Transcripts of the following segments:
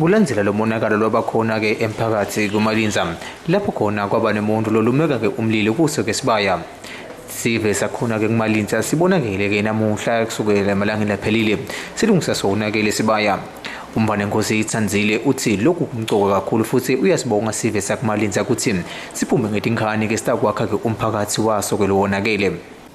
Kulandzela lo monakalo lwaba khona-ke emphakathi kuMalinza lapho khona kwaba nemuntu lolumeka-ke umlilo kuso ke sibaya sive sakhona-ke kumalinza sibonakele-ke namuhla kusukela emalangeni aphelile silungisa sona-ke lesibaya umvane nkosi itsandzile uthi lokhu kumcoka kakhulu futhi uyasibonga sive sakumalinza ukuthi siphume ngetinkhani-ke sitakwakha-ke umphakathi waso-ke lowonakele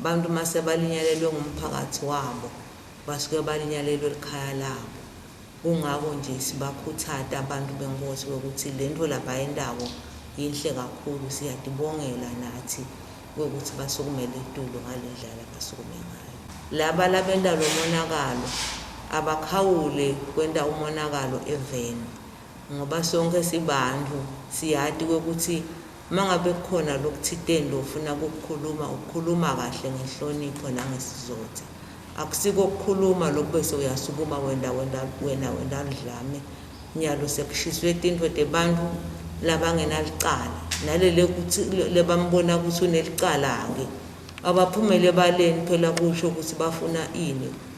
Abantu mase balinyalelwe ngumphakathi wabo basuke balinyalelwe likhaya labo kungako nje sibakhuthade abantu benkosi kokuthi lento labayendako yinhle kakhulu siyadibongela nathi kokuthi basukumele itulo ngalendlela abasukume ngayo laba labenda lomonakalo abakhawule kwenta umonakalo eveni ngoba sonke sibantu siyati kokuthi Uma ngabe kukhona lokuthiteni lofuna kukukhuluma, ukukhuluma kahle ngenhlonipho nangesizotha. Akusiko ukukhuluma lokhu bese uyasukuma wenda wenda wena wenda ludlame. Nyalo sekushiswe tintfo tebantu labangenalicala. Nalele kuthi lebambona ukuthi unelicala-ke. Abaphumele ebaleni phela kusho ukuthi bafuna ini.